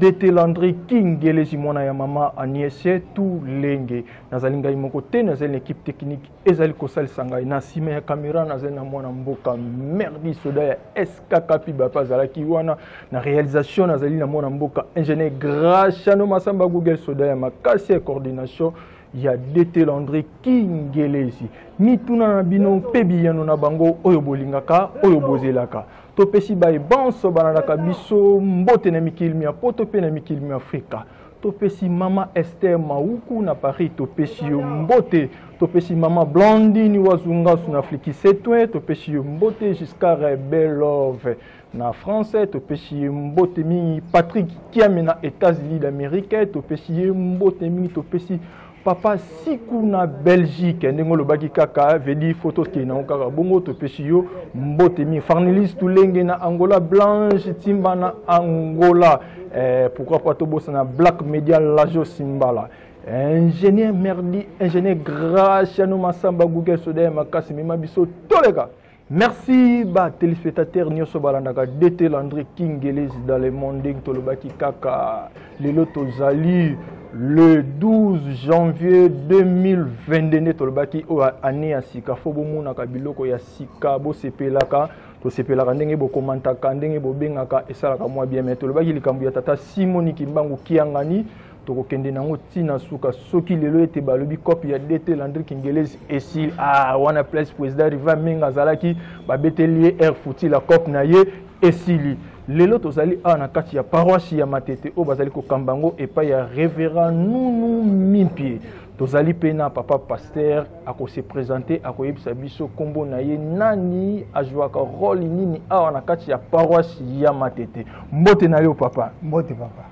detelandre kingelezi mwana ya mama aniese tu lenge nazali ngai moko te nazali na ekipe teknike ezali kosalisa ngai na nsima ya kamera nazali na mwana mboka merdi soda ya skkapi bape azalaki wana na réalisation nazali na mwana mboka ingénieur grachano masamba google soda ya makasi ya coordination ya detelandre kingelezi mituna na bino mpe biyano na bango oyo bolingaka oyo bozelaka topesi baye banso balandaka biso mbote na mikili mya poto mpe na mikili mya afrika topesi mama ester mauku na paris topesi yo mbote topesi mama blandini wazungasu na flikisetwe topesi yo mbote giscare belove na france topesi ye mbote mingi patrick kiame na états-unis d'amérique topesi ye mbote mingi topesi papa siku na belgique ndenge olobaki kaka vedi foto okei nango kaka bongo topesi yo mbote mingi farnilis tulenge na angola blanche timba na angola eh, pourquoi pas tobosana black media lajo simbala ingénieur merdi ingénieur graciano masamba google soda ya makasi mema biso toleka merci ba téléspectateurs nyonso balandaka dt landry kingeles dans le monde ndenge tolobaki kaka lelo tozali le 12 janvier 2022 nde tolobaki oyo année ya sika fo bomonaka biloko ya sika bosepelaka tosepelaka ndenge bokomantaka ndenge bobengaka esalaka mwa bien mai tolobaki likambo ya tata simoni kimbangu kiangani tokokende nango ti na suka soki lelo ete balobi cope ya dt landri kingelesi esili ah, wana place président riva mingi azalaki babeteli ye air futi la cope na ye esili lelo tozali awa na kati ya paroisse ya matete oyo bazali kokamba yango epai ya révérend nunu mimpie tozali mpe na papa paster akose présente akoyebisa biso nkombo na ye nani azwaka role nini awa na kati ya paroisse ya matete mbote na yo papa mbote papa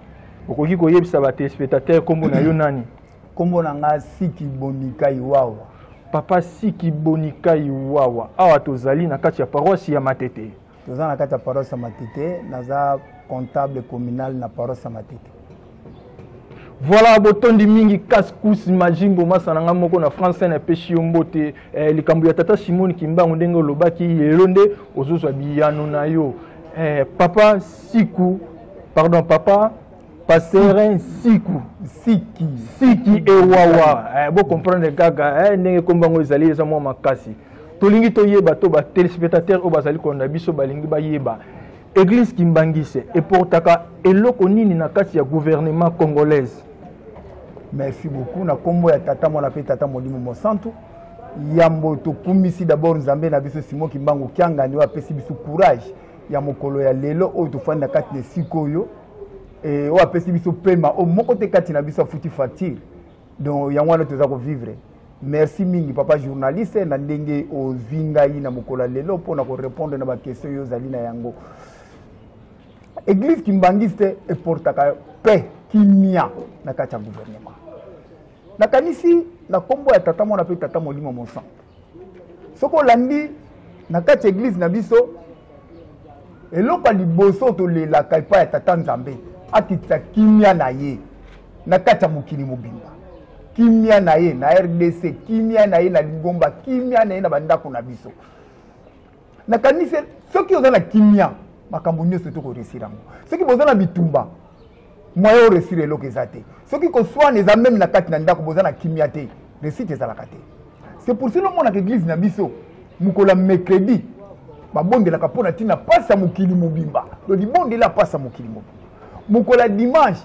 okoki koyebisa ba téléspectateurs kombo na yo nani kombo na nga siki bonikai wawa papa siki bonikai wawa awa tozali na kati ya paroisse ya matete toza na kati ya paroisse ya matete naza comptable communal na paroisse ya matete voilà botondi mingi kaskus majimbo masa na ngai moko na france na epeshi yo mbote eh, likambo ya tata simone kimbangu ndenge olobaki lelo nde ozozwa biyano na yo eh, papa siku pardon papa pasere nsiku siki siki ewawa eh, bocomprendre kaka eh, ndenge nkombo yango ezali eza mwa makasi tolingi toyeba to batelespectateur oyo bazali kolanda biso balingi bayeba eglise kimbangise eportaka eloko nini na kati ya gouvernement congolaise merci beaucoup na nkombo ya tata mwana mpe tata molimo mosantu yambo tokumisi dabord nzambe na biso simo kimbangu kiangani oyo apesi biso courage ya mokolo ya lelo oyo tofandi na kati na esika oyo eh, oyo apesi biso pema oyo moko te kati na biso afuti facture donc yango wana toza kovivre merci mingi papa journaliste na ndenge ozwi ngai na mokolo ya lelo mpo na korepondre na baquestion oyo ozali na yango eglise kimbangiste eportaka paix kimia na kati ya gouvernement nakanisi na nkombo ya tata mwana mpe tata molimo mosantu soki olandi na kati ya eglize na biso eloko ya liboso tolelaka epai ya tata nzambe akitisa kimia na ye na kati ya mokili mobimba kimia na ye na rdc kimia na ye na lingomba kimia na ye na bandako na biso nakanisi soki oza na kimia makambo nyonso te koresire yango soki boza na bitumba moyen oresire eloko eza te soki koswana eza meme na kati na ndako boza na kimia te resite ezalaka te c'est pour cela omonaka eglise na biso mokolo ya mercredi babondelaka mpo na ntina mpasi ya mokili mobimba to libondela mpasi ya mokili mobimba mokolo ya dimanche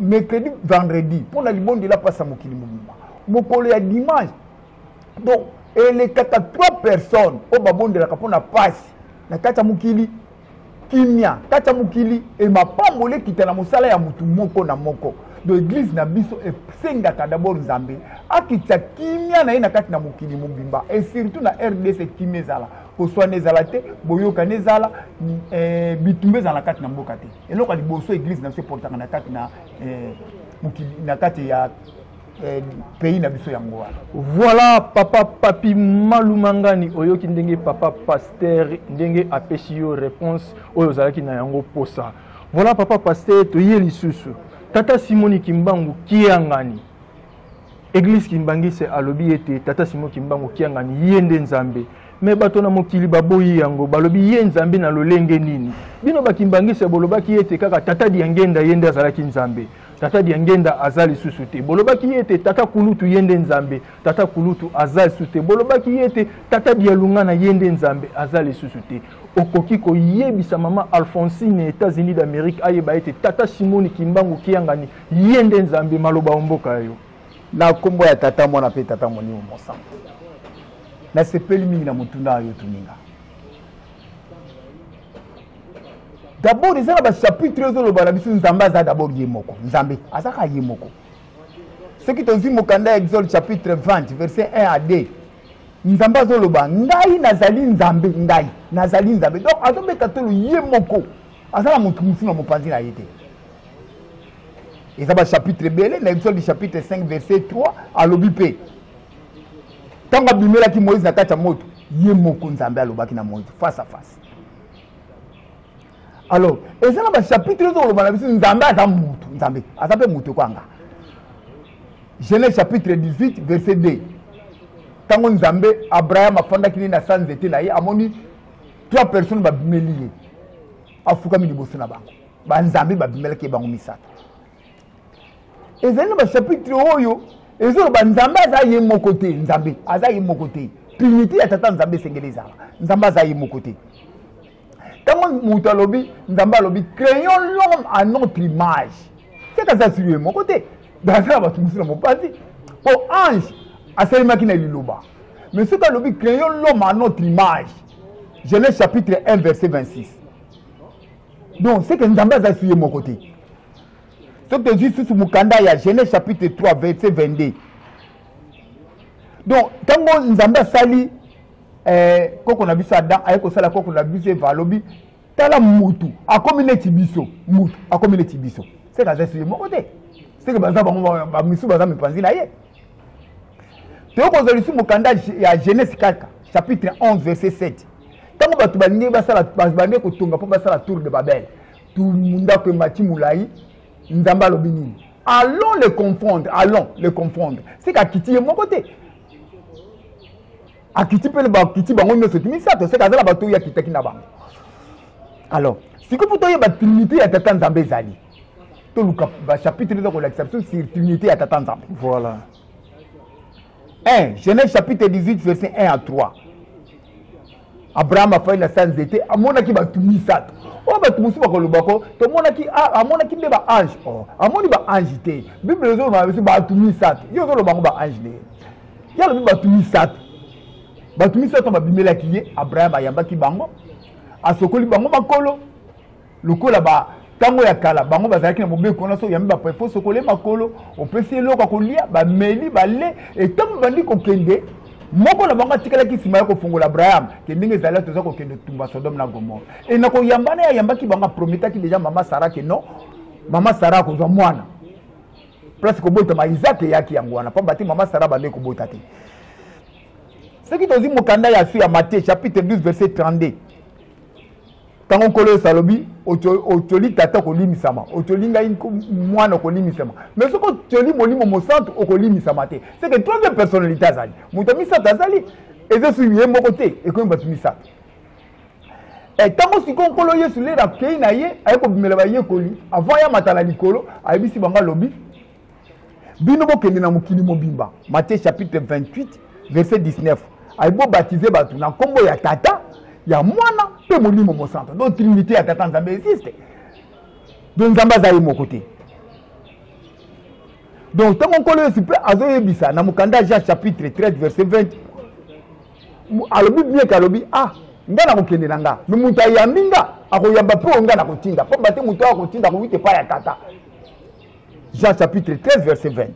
mercredi vendredi mpo na libondela mpasi ya mokili mobimba mokolo ya dimanche donc elekaka trois personnes oyo babondelaka mpo na pasi na kati ya mokili kimia kati ya mokili e mapamboli ekita na mosala ya motu moko na moko do eglize na biso esengaka dabord nzambe akitisa kimia na ye na kati na mokili mobimba e surtout na rdc kimia ezala koswana ezala te boyokani ezala eh, bitumba ezala na kati na mboka te eloko ya liboso eglize na biso eportaka na kati na eh, mokili na kati ya eh, pays na biso yango wana voilà papa papi malumangani oyoki ndenge papa pasteur ndenge apesi yo réponse oyo ozalaki na yango posa voilà papa pasteur toye lisusu tata simoni kimbangu kiangani eglise kimbangise alobi ete tata simo kimbangu kiangani ye nde nzambe me bato na mokili baboyi yango balobi ye nzambe na lolenge nini bino bakimbangise bolobaki ete kaka tata diangenda ye nde azalaki nzambe tata diangenda aza lisusu te bolobaki ye ete tata kulutu ye nde nzambe tata kulutu aza lisusu te bolobaki ye ete tata dialungana ye nde nzambe aza lisusu te okoki koyebisa mama alphonsine ya états-unis d'amérique ayeba ete tata simoni kimbangu kiangani ye nde nzambe maloba o mboka ya yo na nkombo ya tata mwana mpe tata molimo mosanto nasepeli mingi na motuna oyo otuninga dabord eza na bachapitre oyo ezoloba na biso nzambe aza dabord ye moko nzambe aza kaka ye moko soki tozwi mokanda ya exode chapitre 20 verset 1 à 2 nzambe azoloba ngai nazali nzambe ngai nazali nzambe donc azobeta tolo ye moko aza na moto mosusu na mopanzi na ye te eza bachapitre ebele na exode chapitre 5 verset 3 alobi mpe ntango abimelaki moïse na kati ya moto ye moko nzambe alobaki na moïse face à face alors eza na bachapitre oyo tokoloba na biso nzambe aza motu nzambe aza mpe motu ekwanga genèse chapitre 18 verset 2 ntango nzambe abraham afandaki nini na sa nzete na ye amoni trois personnes babimeli ye afukami liboso na bango banzambe babimelaki ye bango misato ezali na bachapitre oyo ezoloba nzambe aza ye moko te nzambe aza ye moko te trinité ya tata nzambe esengeli ezala nzambe aza ye moko te ntango moto alobi nzambe alobi créons l'homme à notre image seke aza silo ye moko te aza na bato mosusu na mopanzi mpo ange asalemaki na liloba mais soki alobi créons l'homme à notre image genèse chapitre 1 verset 26 donc seke nzambe aza silo ye moko te soki tozwi susu mokanda ya genèse chapitre 3 verset 22 donc ntango nzambe asali eh, koko na biso adam aye kosala koko na biso eva alobi tala mutu akomi neti biso mutu akomi neti biso seke aza suye moko te seke baza bango bamisu baza mipanzi na ye toyei kozwa lisusu mokanda ya genèse kaka chapitre 11 verset 7 ntango bato balingi basala balingi kotonga mpo basala tour de babele ndako emati molai nzambe alobi nini allons le confondre allons le confondre seke akiti ye moko te akiti mpe bakiti bango nyonso ti misato seke aza na bato oyo akitaki na bango alors sikoyo mpo toyeba trinité ya tata nzambe ezali toluka bachapitre eza kolakisa biso sur trinité ya tata nzambe voilà 1 genèse chapitre 18 verset 1 à 3 abraham afandi na sa nzete amonaki bato misato oyo bato mosusu bakolobako tomonaki amonaki nde baange o oh, amoni baange te bible ezoloba biso bato misato ye ozoloba yango baange nde ye alobi bato misato bato misato babimelaki ye abraham ayambaki bango asokoli bango makolo lokola ba ntango ya kala bango bazalaki na mobeko wana soki yambi baprefo sokole makolo opesi eloko ya kolia bameli bale etango bandi kokende moko na bango atikalaki nsima ya kofungola abraham ke ndenge ezali toza kokende tumba sodome na gomore e na koyamba na ye ayambaki bango aprometaki deja mama sara ke non mama sara akozwa mwana place kobotama isaac eyaki yango wana mpamba te mama sara bande kobota te soki tozwi mokanda ya su ya matie chapitre 12 verset 32 ntango nkolo yesu alobi otyoli tata okolimisama otyoli ngai mwana okolimisama mais soki otyoli molimo mosantu okolimisama te seke troisième personnalité azali moto ya misato azali eza esuki ye moko te ekomi bato misato ntango eh, sikoyo nkolo yesu lelo akei na ye aye kobimela bayekoli avant ya mata na likolo ayebisi bango alobi bino bokende na mokili mobimba matie chapitre 28 verset 19 ayi bobatize bato na nkombo ya tata ya mwana mpe molimo mosanto donc trinité ya tata nzambe existe do nzambe aza ye moko te donc ntango nkolo yesu mpe azoyebisa na mokanda ya jean chapitre 13 verset 20 alobi bieke alobi ah ngai nakokende na nga me moto ayambi nga akoyamba mpe oyo ngai nakotinda mpo bate moto oyo akotinda akoki te epai ya tata jean chapitre 13 verset 20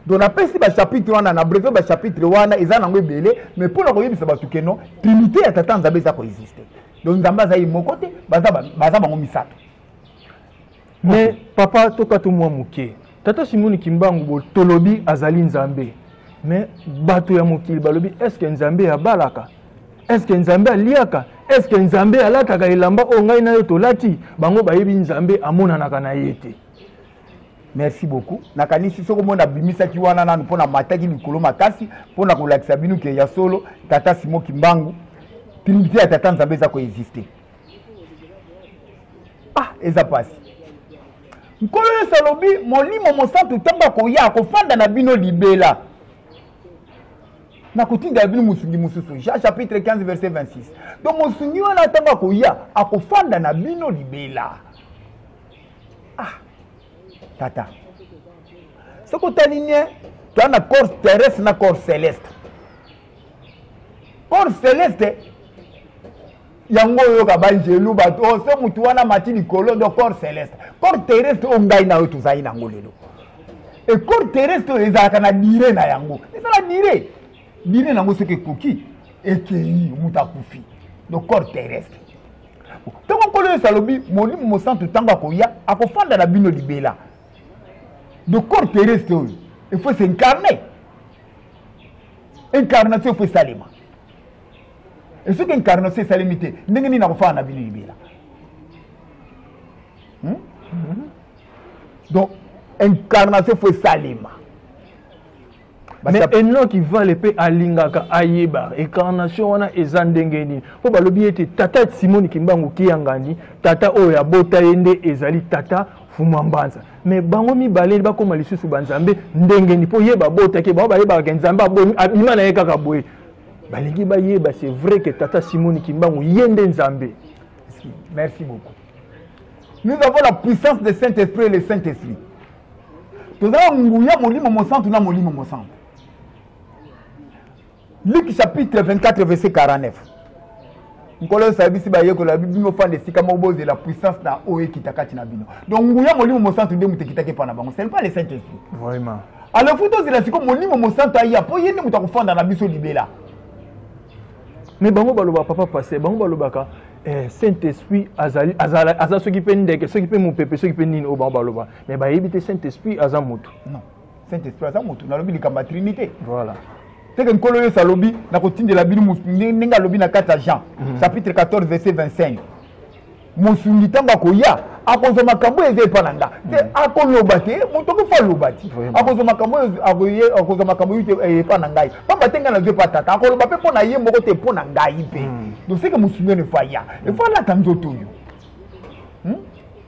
donc napesi bachapitre wana na brevet bachapitre wana eza nango ebele mais mpo na koyebisa bato keno trinité ya tata nzambe eza koexiste donc nzambe aza ye moko te baza bango misato mais papa tokata mwa moke tata simoni kimbangu botolobi azali nzambe mais bato ya mokili balobi estce nzambe abalaka eske nzambe aliaka eske nzambe alataka elamba oyo ngai na yo tolati bango bayebi nzambe amonanaka na ye te merci beaucoup nakanisi soki omoi nabimisaki wana nanu mpo namataki likolo makasi mpo na kolakisa bino ke ya solo tata simo kimbangu trinité ya tata nzambe eza koexiste ah eza mpasi nkolo yesu alobi molimo mosantu ntango akoya akofanda na bino libela nakotindela bino mosungi mosusu jean chapitre 15 verset 26 to mosungi wana ntango akoya akofanda na bino libela ah tata soki otali nie toa na corps terrestre na corps celeste corps celeste yango oyoka baangelu bato oh, se motu wana mati likolo ndo corps celeste corps terrestre oyo ngai na yo tozali na yango lelo e corps terrestre oyo ezalaka na dire na yango ezala dire dire na yango soki ekoki ekei moto akufi no corps terrestre ntango nkolo yesu alobi molimo mosantu ntango akoya akofanda na bino libela no corps terrestre oyo efo s'incarne incarnation efo esalema e soki incarnation esalemi te ndenge nini nakofana na bino libela hmm? mhm. donc incarnation fo esalema mais enoki vale mpe alingaka ayeba incarnation wana eza ndenge nini mpo balobi ete tata simoni kimbangu kiyangani tata oyo abota ye nde ezali tata fuma mbanza me bango mibale bakóma lisusu banzambe ndenge nini mpo ye babotaki bango bayebaka nzambe abima na ye kaka boye balingi bayeba c'est vrai que tata simoni kimbangu ye nde nzambe merci beaucoup nous avons la puissance de saint esprit et le saint esprit tozala nguya molimo mosantu na molimo mosantu luc chapitre 24 verset 49 nkolo yesu ayebisi bayekoli ya bino ofanda esika moko bozela puissance na oyo ekita kati na bino donc nguya molimo mosantu nde moto ekitaki epai na bango ce n'est pas le saint esprit vraiment alors fo tozela sikoyo molimo mosantu aya mpo ye nde moto akofanda na biso libela mais bango balobaka papa paster bango balobaka eh, saint esprit azali azala aza soki mpe ndeke soki mpe mopepe soki mpe nini oyo bango baloba mais bayebi te saint esprit aza moto non saint esprit aza motu nalobi likambo ya trinité voilà seke nkolo yesu alobi nakotindela bino ndenge alobi na kati ya jean mhm. chapitre 14 verset 25 mosungi ntango akoya akozwa makambo oyo eza epa na nga te mhm. akoloba te moto okofa aloba ti akozwa makambo oyo akozwa makambo oyo eh, epa na ngai pamba te ngai nazwa epa tata akoloba mpe mpo na ye moko te mpo na ngai mpe mhm. doseke mosungi ono efa ya efa alata nzoto oyo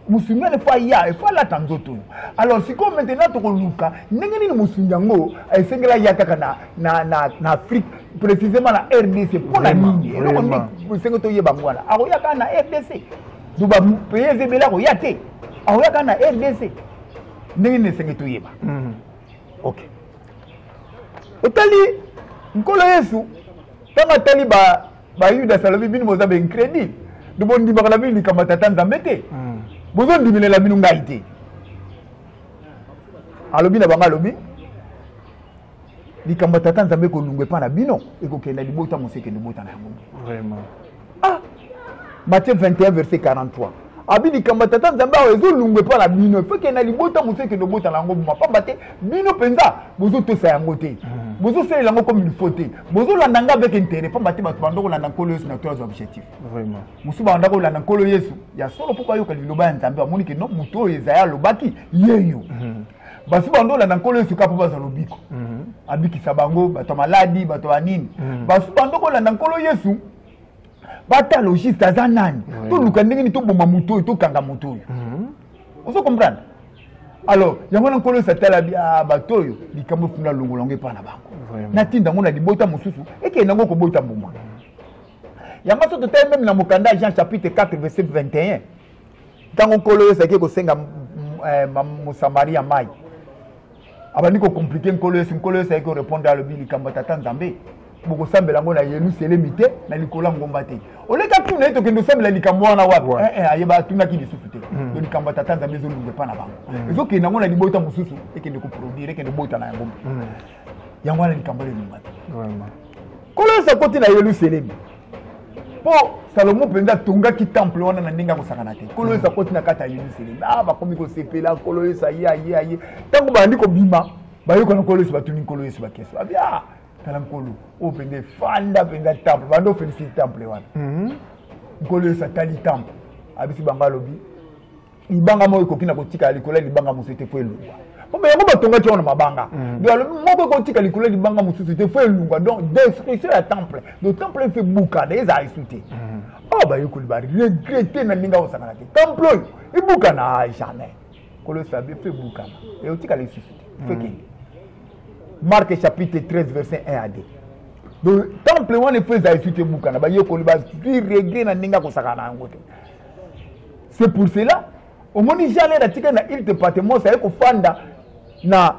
mosungeli fo aya efo alata nzoto oyo alors sikoyo maintenant tokoluka ndenge nini mosungi yango esengeli aya kaka na, na, na, na afrique précisément na rdc mpo na nini eloko nde esenge toyeba yango wana akoya kaka na rdc to bapaye eza ebele akoya te akoya kaka na rdc ndenge nini esenge toyeba mhm. ok otali nkolo yesu ntango atali ba bayuda salobi bino boza baincredile to bondimaka na bino likambo ya tata nzambe te hmm. bozondimelela bino ngai te alobi na bango alobi likambo ya tata nzambe ekolunga epai na bino ekokenda libota mosekende libota na yango ah matthieu 21 verset 43 abi likambo ya tata nzambe awa ezolungwa epai na bino efeke na libota mosusu ekende obota na yango boma mpamba te bino mpenza bozotosa yango te hmm. bozosalela yango comme ilfo te bozolanda nga avec intérêt mpamba te bato banda kolanda nkolo yesu na to azwa objectif mosusu banda kolanda nkolo yesu ya solo mpo bayoka liloba ya nzambe bamoni ke no moto oyo ezaya alobaki yeyo hmm. basi bando olanda nkolo yesu kaka mpo bazwa lobiko hmm. abikisa bango bato ya maladi bato ya nini basi bando kolanda nkolo yesu bata logiste aza nani toluka ndenge nini toboma moto oyo tokanga moto oyo mhm. ozo comprendre alors yango wana nkolo esatala ah, bato oyo likambo efunda longola yango epai na bango natinda yango na libota mosusu ekende yango kobota mbuma yango so totali meme na mokanda ya jean chapitre 4 verset 21 ntango nkolo oyo ezalaki kosenga eh, mosamaria mai abandi kocomplike nkolo yesu nkolo yesu ayaki korepondre alobi likambo ya tata nzambe bokosambela yango na yelusalemi te na likolo ya ngomba te oleki atuna ye tokende osambela likambo wana wapi eh, eh, ayeba atunaki lisusu te hmm. to likambo ya tata nzambe ezolunga epa na bango hmm. ezokende yango na libota mosusu ekende koproduire ekende bota na yango hmm. yango wana likambo wana elunga te nkolo yesu akoti na yelusalemi mpo salomo mpenza atongaki temple wana na ndenge akosakana te nkolo yesu akoti na kati ya yelusalemi a ah, bakomi kosepela nkolo yesu aye aye aye ntango bandi kobima bayokana nkolo yesu batuni nkolo yesu bakeso abi a ah, tala nkolo oyo mpenza efanda mpenza temple bandi ofelisiti temple wana mhm. nkolo yesu atali temple abisi bango alobi libanga moko ekoki na kotikala likolo ya libanga mosusu te mpo elongwa mpo yango batongaki yango na mabanga mm. donc alobi moko ekotika likolo ya libanga mosusu te fo elunga donc destruction ya temple donc temple efe bukana eza aisu te oyo mm. oh, bayekoli baregrete na ndenge akosangana te temple oyo ebukana ah, jamais kolosala be fo ebukana ekotikala lisusu te mm. fo ekende marke chapitre 13 verset 1 à 2 donc temple wana efo eza aisu te ebukana bayekoli bazwi regret na ndenge akosakana na yango te c'est pour cela omoni jalere atika na ile departements aye kofanda na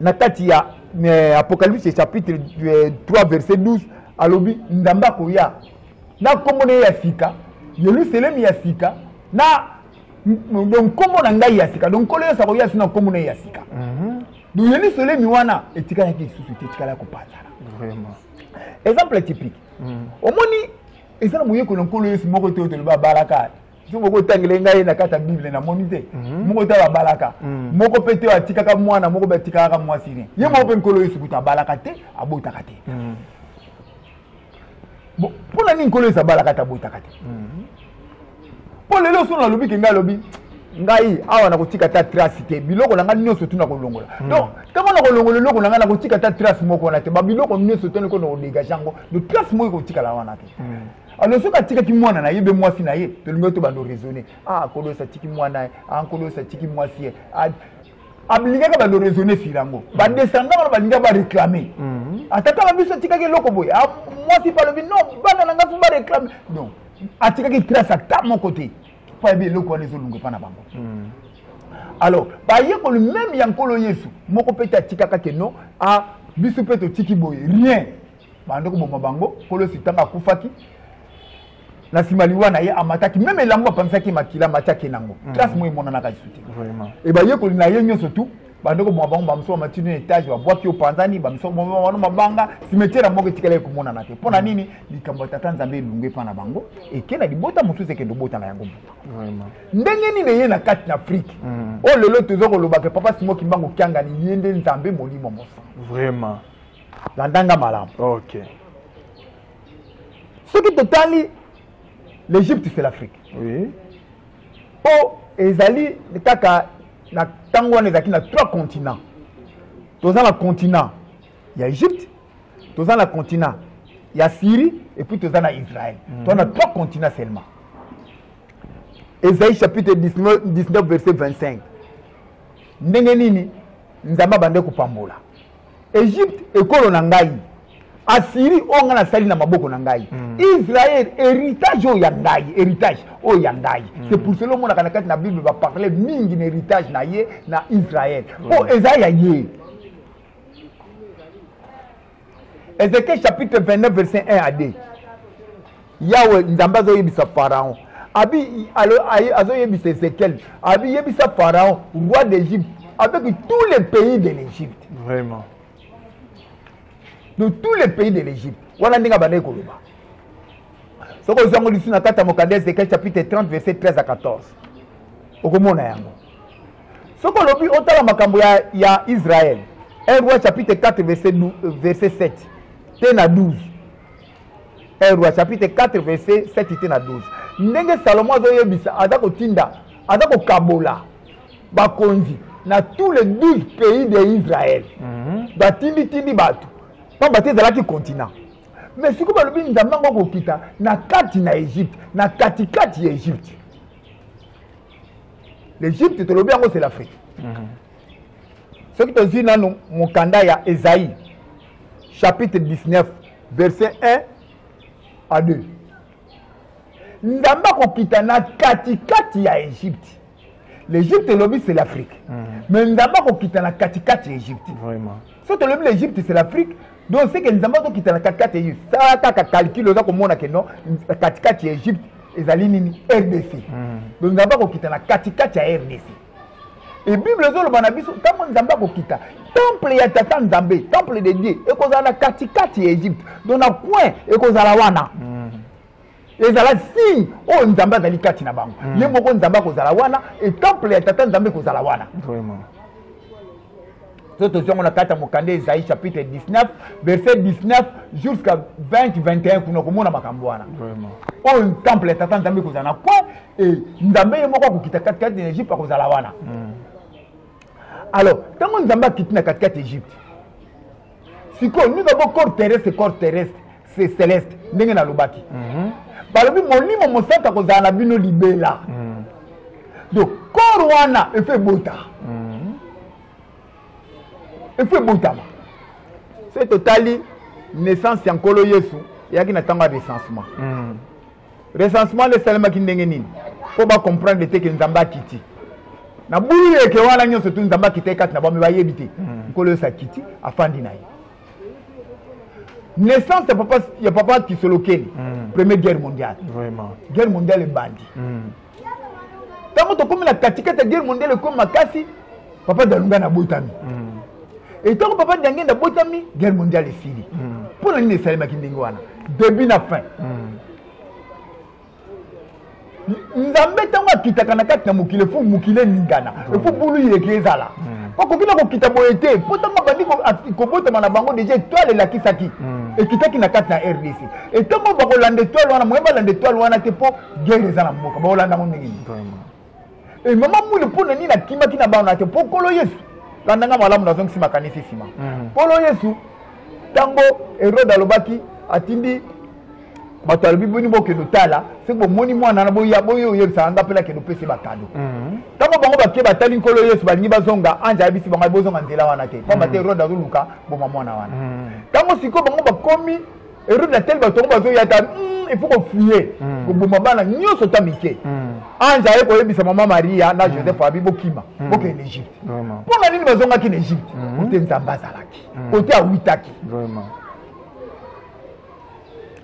na kati ya eh, apocalypse chapitre 3 eh, verset 12 alobi ndamba akoya na nkombo na ye ya sika yelusalemi ya sika na donc nkombo na ngai ya sika donc nkolo yesu akoya so na nkombo na ye ya sika mhm. donc yelusalemi wana etikalaki lisusu te etikala ya kopanzana exemple typique mhm. omoni eza na moyekoli ya nkolo yesu moko te oyo toloba abalaka soki moko otangele ngai na kati ya bible namoni te mhm. moko te babalaka mhm. moko mpe te atikaka mwana moko mpe atikaka mwasi ne ye moko mpe nkolo yesu kutu abalaka te abotaka te mhm. mpo na nini nkolo yesu abalaka te abotaka te mpo lelo solo nalobi ke ngai alobi ngai awa nakotika ata trace te biloko na ngai nyonso tu nakolongola hmm. donc ntango nakolongola eloko na ngai nakotika ata trace moko wana te babiloko nyonso to niko nakodegage yango do trace moko ekotikala wana te hmm. alors soki atikaki mwana na ye be mwasi na ye tolingi to bando raisonne ah kolosa atiki mwana ye ah kolosa atiki mwasi ye ah, ablingaka bando raisonne sur yango mm. badescendant wana balingaka baréclame mm. ata kaka biso atikaki eloko boye ah, mwasi mpe alobi non bana na ngai mpo baréclame non atikaki trace ata moko te mpo ayebi eloko wana ezolunga epa na bango mm. alors bayekoli meme ya nkolo yesu moko mpe te atikaka ke non a ah, biso mpe totiki boye rien bande koboma bango nkolo yesu ntango akufaki na nsima liwa na ye amataki meme elambo apanzaki makila amatiaki nango mm. classe moi emonanaka lisusu te e bayekoli na ye nyonso tu bande koboma bango bamosusu bamati no etage babwaki opanzani bamosusu baboma bano mabanga simetiere moko etikali ekomonana te mpo na mm. nini likambo ya tata nzambe elungu epa na bango eke na libota mosusu ekende obota na yango mbuta ndenge nini eye na kati na afrike mm. oyo oh, lelo toza kolobaka papa simo kimbango kiangani ye nde nzambe molimo mosantu vraiment landa nga malamu okay. soki totali l'egypte c'est l'afrique oui. mpo ezali kaka na ntango wana ezalaki na trois continent toza na continent ya egypte toza na continent ya syrie epuis toza na israel mm -hmm. toza na trois continent seulement ezali chapitre 19, 19 verset 25 ndenge nini nzambe abande kopambola egypte ekolo na ngai asiri oyo ngai nasali na maboko na ngai mm. israel héritage oyo ya ngai héritage oyo ya ngai mm. c'est pour cela omonaka na kati na bible baparle mingi na héritage na ye na israel mpo mm. eza ya ye ezekiel chapitre 29 verset 1 à 2 yawe nzambe azoyebisa pharaon abi azoyebisa ezekiel abi yebisa pharaon roi d'égypte avec tous les pays de l'égypte vraiment de tous les pays de l'égypte wana ndenge abandaki koloba soki ozwi yango lisu na kati ya mokanda ezekiel chapitre 30 verset 13 à 14 okomona yango soki olobi otala makambo ya, ya israel 1 roi chapitre 4 verset, verset 7 te na 12 1 roi chapitre 4 verset 7 te na 12 ndenge salomo azoyebisa aza kotinda aza kokabola bakonzi na tous les 12 pays de israel mm -hmm. batinditindi bato mpamba te ezalaki continent mais sikoyo balobi nzambe yango akokita na kati na egypte na katikati ya egypte l'egypte tolobi yango c'est l'afrique mm -hmm. soki tozwi nanu mokanda ya ezai chapitre 19 verset 1 à 2 nzambe akokita na katikati ya egypte l'egypte elobi c'est l'afrique mm. mais nzambe akokita na katikati ya egypte so tolobi l'egypte c'est l'afrique donc seke nzambe azokita na katikati ya egypte sala kaka calcul oza komona ke non katikati ya egypte ezali nini rdc mm. donc nzambe akokita na katikati ya rdc e bible ezoloba na biso ntango nzambe akokita temple ya tata nzambe temple de dieu ekozala na katikati ya egypte don na coin ekozala wana mm. ezala signe oyo nzambe azali kati na bango mm. ye moko nzambe akozala wana e temple ya tata nzambe ekozala wana soki tozwi yango na kati ya mokanda ezai chapitre 19 verset 19 jusqu'à 20 21 kuna okomona makambo wana oyo oh, temple ya tata nzambe ekozala na coin e nzambe ye moko akokita katikati na egypte akozala wana hmm. alors ntango nzambe akiti na katikati ya egypte sikoyo nini bango corps terrestre corps terrestre c'est céleste ndenge nalobaki mhm. balobi molimo mosantu akozala na bino libela mhm. donc corps wana efo ebota mhm. efo ebotama soki totali naissance ya nkolo yesu eyaki na ntango ya recensement recensement nde esalemaki ndenge nini mpo bacomprendre te ke nzambe akiti na bulu eke wana nyonso tu nzambe akitaki kati na bami bayebi te hmm. nkolo yesu akiti afandi na ye naissance ya papa, ya papa kisolokeli mm. première guerre mondiale Vraiment. guerre mondiale ebandi mm. ntango tokomi na katikati ya guerre mondiale ekomi makasi papa dalunga nabotami mm. etango papa dange nabotami guerre mondiale esili mm. mpo na nini esalemaki ndenge wana début na fin mm. nzambe ntango akitaka na kati na mokili efo mokili eningana efo bulu yeke ezala bakoki na kokita boye te mpo ntango abandi kobotama na bango deja etoile elakisaki ekitaki na kati na rdc etango bakolanda etoile wana moye balanda etoile wana te mpo guerre eza na mboka baolanda yango ndenge nini e eh, mama mwili mpo na nini akimaki na bana te mpo nkolo yesu landa nga malamu nazongisi makanisi nsima mm. nkolo yesu ntango herode alobaki atindi bato alobi boni bokende otala soki bomoni mwana na boya boye oyebisaka nga mpela kende opesi bakado mhm. ntango bango bake batali nkolo yesu balingi bazonga anje ayebisi bango bozonga nzela wana te mpamba te mhm. rode azoluka boma mwana wana mhm. ntango sikoyo bango bakomi Herode atel bato yango bazoya ata hmm, il faut kofie hmm. koboma bana nyonso ta mike hmm. anje aye koyebisa mama maria na joseph abi bokima bokee na egypte mpo na nini bazongaki na egypte ote nzambe azalaki ote awitaki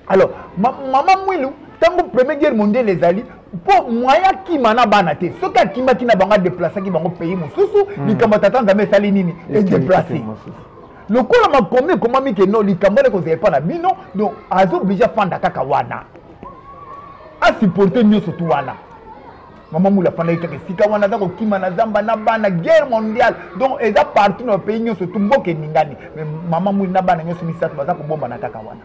alors mama mwilu ntango premier guerre mondiale ezali mpo moyen akima na bana te soki akimaki na bango adeplasaki bango pays mosusu likambo tata nzambe esali nini edeplace lokola makomi ekomami ke no likambo wana ekozala epa na bino donc aza oblige afanda kaka wana asupporte nyonso tu wana mama mula afandaki kaka esika wana aza kokima na zamba na bana guerre mondiale donc eza partout na bapays nyonso tu mboka eningani mais mama muli na bana nyonso misato baza kobombana kaka wana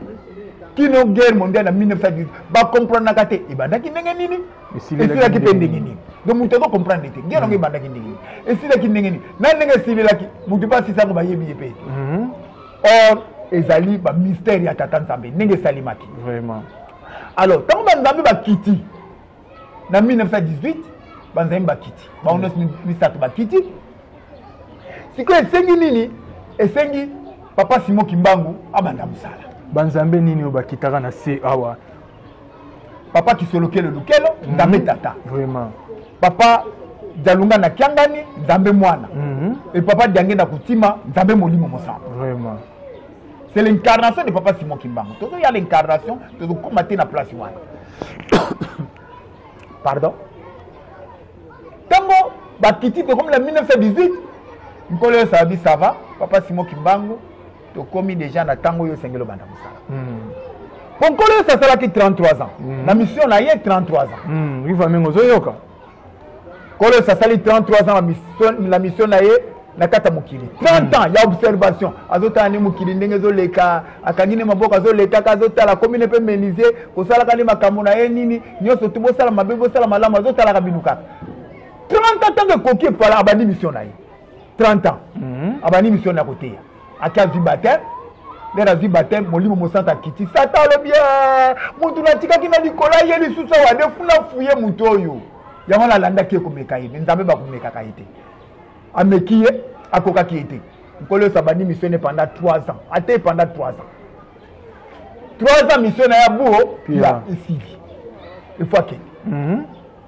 kino guerre mondiale na 1918 bakomprenaka te ebandaki ndenge nini esilaki mpe ndenge nini donc moto aza comprendre te ngela yango ebandaki ndenge nini esilaki ndenge nini na ndenge esilelaki moto mpe asisa yango bayebi ye mpe te mhm. or ezali bamystère ya tata nzambe ndenge esalimaki vraiment alors ntango banzambe bakiti na 1918 banzambe bakiti bango nyonso mm. misato bakiti sikoyo esengi nini esengi papa simo kimbangu abanda mosala banzambe nini oyo bakitaka na se awa papa kisolokele lukelo mhm. nzambe tata vraiment papa jalunga na kiangani nzambe mwana mhm. e papa diange na kotima nzambe molimo mosanto vraiment c'est l'incarnation de papa simon kimbangu tozoya l'incarnation tozokoma te na place wana pardon ntango bakiti tokomi na 1918 nkolo yosala bisava papa simon kimbangu tokomi deja na ntango oyo osengeli obanda mosala po hmm. nkolo yesu asalaki 33 ans hmm. na mission na ye 33 ans hmm. ivamenge ozoyoka nkolo yesu asali 33 ans na mission na ye na kati ya mokili 30 ans ya observation azotala nde mokili ndenge ezoleka akangi nde maboko azolekaka azotala akomi ne mpe menisie kosalaka nde makambo na ye nini nyonso tu bosala mabe bosala malamu azotalaka bino kaka 30 ans ntango ekoki epala abandi mission na ye 30 ans mhm. abandi mission na koteya ake azwi bateme ndenge azwi bateme molimo mosantu akiti sata alobi eh, motu natikaki na likolo aye lisusu awa nde funa fuye motu oyo yango wana alandaki ye komeka ye me nzambe bakomekaka ye te ameki ye akokaki ye te nkolo yesu abandi mission ne panda 3 ans ata ye panda 3 ans 3 ans mission na ya buo esili efo akende mhm.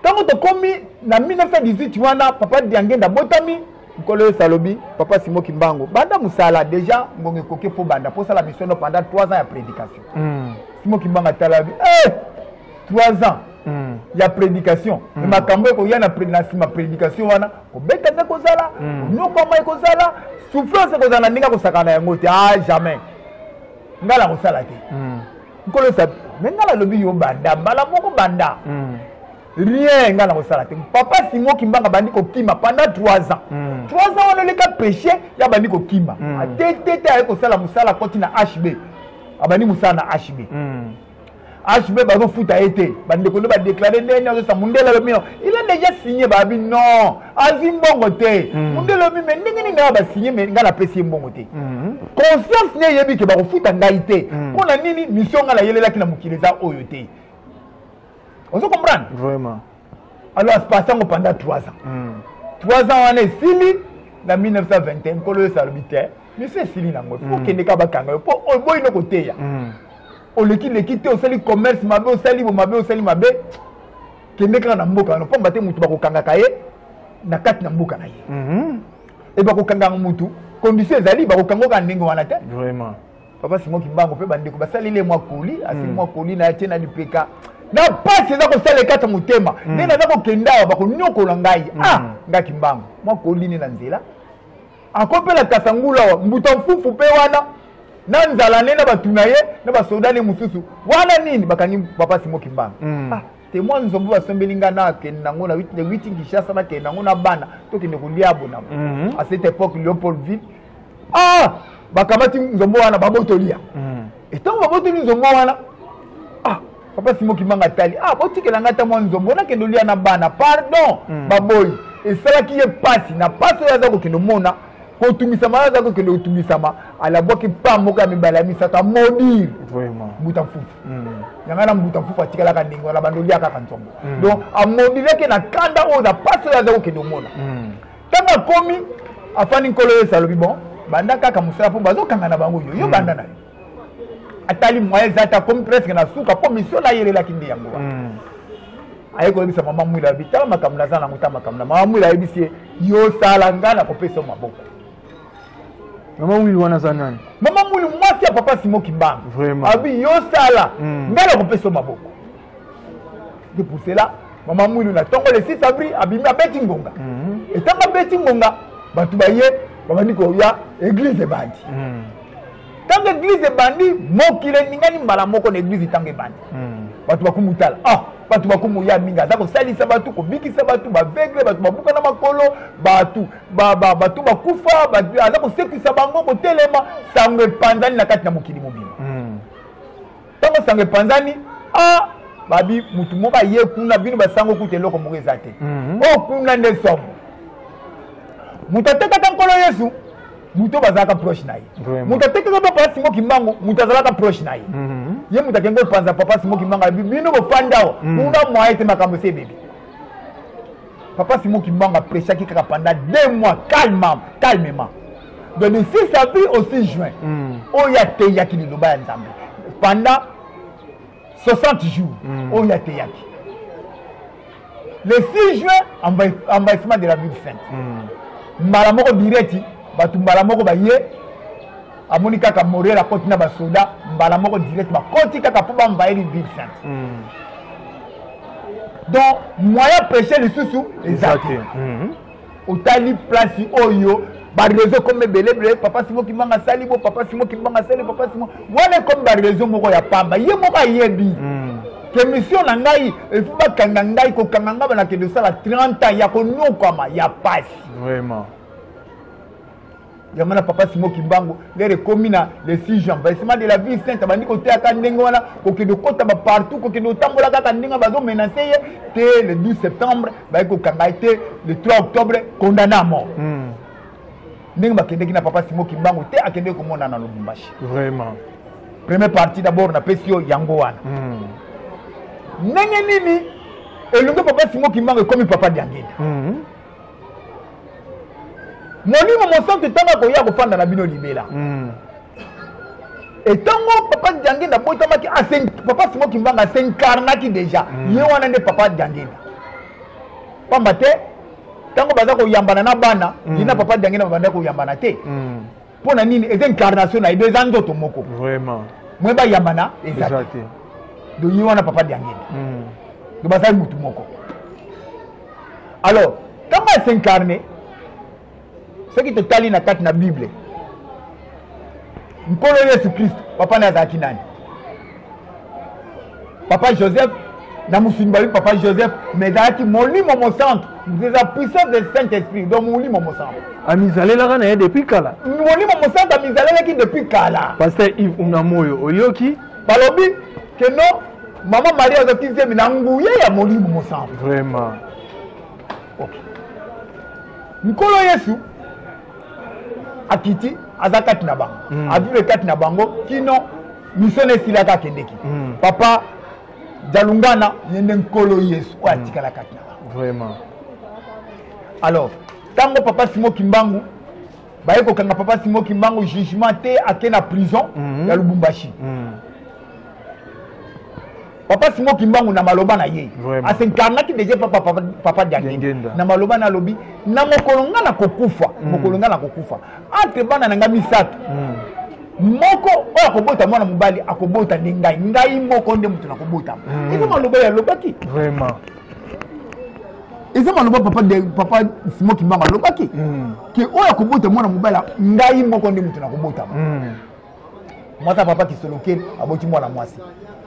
ntango tokomi na 1918 wana papa diangenda abotami nkolo yesu alobi papa simo kimbango banda mosala deja ngongo ekoki mpo banda mpo osala misiono pendant 3 ans ya prédication mm. simo kimbango atala alobi eh, 3 ans mm. ya prédication mm. makambo ekoya na nsima prédication wana kobeta nde kozala mm. konyokwama ekozala souffrance ekozala na ndenge akosakana yango te a ah, jamais ngai nakosala te mm. nkolo yesu me ngai nalobi yo banda mbala moko banda mm. rien ngai nakosala te papa simo kimbanga abandi kokima pendant 3 ans 3 mm. ans wana oleka péché ye abandi kokima mm. atetete aye kosala mosala akoti na hb abandi mosala na hb hb bazofuta ye te bandeko nde badeklare ndenge azosa mundele alobi no il a déjà signe babi non azwi mbongo te mm. mundele obi me ndenge nini naya basigne me ngai napesi ye mbongo te mm-hmm. conscience ne eyebi ke bakofuta ngai te mm. mpo na nini mission ngai nayelelaki na mokili eza oyo te ozo comprendre vraiment alors aspase yango pendant 3 ans 3 mm. ans wana esili na 1921 nkolo yesu alobi te mission esili nango fo okende ka bakanga yo mpo oboyi no koteya oleki leki te osali commerce mabe osali bo mabe osali mabe kende kaka na mboka wana mpamba te motu bakokangaka ye na kati na mboka na ye mhm. e bakokangaka motu condition ezali bakokangoka ndenge wana te vraiment papa simo kimbango mpe bandeko basaleli ye mwa koli asili mwa hmm. koli na ye tie na lipeka na mpasi eza kosala ekata motema hmm. nde naza kokenda awa bakonyokola ngai hmm. ah nga kimbango mwa koli nde na nzela akopela kasangulu awa mbuta mfufu mpe wana na nzala ne na bato na ye na basoda ne mosusu wana nini bakangi papa simo kimbanga mm. ah, temoin nzombo basombeli ngai nakende nango na witi kinshasa nakende nango na bana tokende kolia bonamo mm -hmm. a cette époque léopoldville ah bakamati nzombo wana babotoli ya mm. etango babotoli nzombo wana ah papa simo kimanga tali ah botikela ngai ata mwa nzombo onakende olia na bana pardon mm. baboyi esalaki ye mpasi na mpasi oyo aza kokende omona kotumisama oyo aza kokende kotumisama alabwaki mpa moko ya mibale ya misato amodire mbuta mfufu mm. yanga na mbuta mfufu atikalaka ndenge wana bando olia kaka nzombo mm. donc amodireke na kanda oyo na mpasi oyo aza kokende omona mm. ntango akomi afandi nkolo oyo esalobi bon banda kaka mosala mpo bazokanga na bango yo yo banda na yo atali moye eza te akomi presque na suka mpo misio nayelelaki nde yango wana hmm. aye koyebisa mama mwila abi tala makambo naza nango ta makambo na mama mwila ayebisi ye yosala ngai nakopesa maboko mama mwili wana aza nani mama mwili mwasi ya papa simo kimbanga abi yosala hmm. ngai nakopesa maboko de pour cela mama mwili na ntongo le 6 avril abimi abeti ngonga hmm. etango abeti ngonga bato baye babandi koya eglize ebandi ntango eglize ebandi mokili eningani mbala moko na eglize ntango ebandi hmm. bato bakumutala ah bato bakumu ya mingi aza kosalisa bato kobikisa bato bavegle bato babuka na makolo bato bato bakufa aza kosekwisa bango kotelema sango epanzani na kati na mokili mobima hmm. ntango sango epanzani ah, babi motu moko aye kuna bino basango kuta eloko moko eza te oyo mhm. oh, kuna nde somo moto atekaka nkolo yesu moto oyo bazalaka proche na ye moto atekaka papa simo kimbangu moto azalaka proche na ye mhm. ye moto akende kopanza papa simo kimbangu alobi bino bofanda awa mhm. kuna mwaye te makambo esi ebebi papa simo kimbangu aprechaki kaka pendant deux mois calmement calmement donc de 6 avril au 6 juin mm. oyo ateyaki liloba ya nzambe pendant 60 jours mm. oyo ateyaki le 6 juin envahissement de la ville sainte mm. mbala moko direti bato mbala moko baye amoni kaka morel akoti na basoda mbala moko direct bakoti kaka mpo bamvaeli ville sainte mm. donc moyen peche lisusu eza te otali place oyo barezo ekoma ebelebele papa simo kimbanga asali bo papa simo kimbanga asali papa simo wana ekomi barezo moko ya pamba ye moko ayebi mm. kemisio na ngai efi bakanga ngai kokanga ngai banakende osala 30 ans ya konyokwama ya pasi vraiment yango na papa simo kimbangu lere ekomi na le 6 jan vaisement de la ville sainte abandi koteyaka ndenge wana kokende okota bapartout kokende otambola kaka ndenge bazomenase ye te le 12 septembre bayaki kokanga ye te le 3 octobre condamne à mort hmm. ndenge bakendeki na papa simo kimbangu te akendeki komona na lubumbashi vraiment première partie d'abord napesi yo yango wana hmm. ndenge nini elongo papa simo kimbangu ekomi papa diangenda hmm. molimo mosantu ntango akoya kofanda na bino libela mm. etango papa diangenda abotamaki papa simo kimbanga asenkarnaki déjà mm. ye wana nde papa diangenda pamba te ntango baza koyambana na bana mm. ye na papa diangenda babanda koyambana te mm. mpo na nini eza incarnation na ye do eza nzoto moko vraiment mwe bayambana eza te do ye wana papa diangenda hmm. do bazali motu moko alors ntango ya s'incarne soki totali na kati na bible nkolo yesu kristo papa na azalaki nani papa joseph na mosuni babi papa joseph mais ezalaki molimo mosantu eza puissance de saint esprit donc molimo mosantu amizalelaka na ye depuis kala molimo mosantu amizalelaki depuis kala paster ive unamoyo oyoki balobi ke non mama maria azwaki nzembe na nguya ya molimo mosantu vraiment okay. nkolo yesu akiti aza kati na bango mm. avivre kati na bango kino misio na esilaka akendeki mm. papa jalungana ye nde nkolo yesu oyo mm. atikalaka kaka vraiment alors ntango papa simo kimbangu baye kokanga papa simo kimbangu jugement te ake na prison mm -hmm. ya lubumbashi mm -hmm. papa simo kimbangu na maloba na ye asenkarnaki deja epa papa, papa diangenda na maloba na alobi na mokolo ngai na kokufa mm. mokolo ngai na kokufa entre bana na ngai misato mm. moko oyo akobota mwana mobali akobota nde ngai ngai moko nde moto nakobota mm. eza maloba ye alobaki vraiment eza maloba papa de papa simo kimbangu alobaki mm. ke oyo akobota mwana mobali ngai moko nde moto nakobotama mm. mwasi ya papa kisoloke aboti mwana mwasi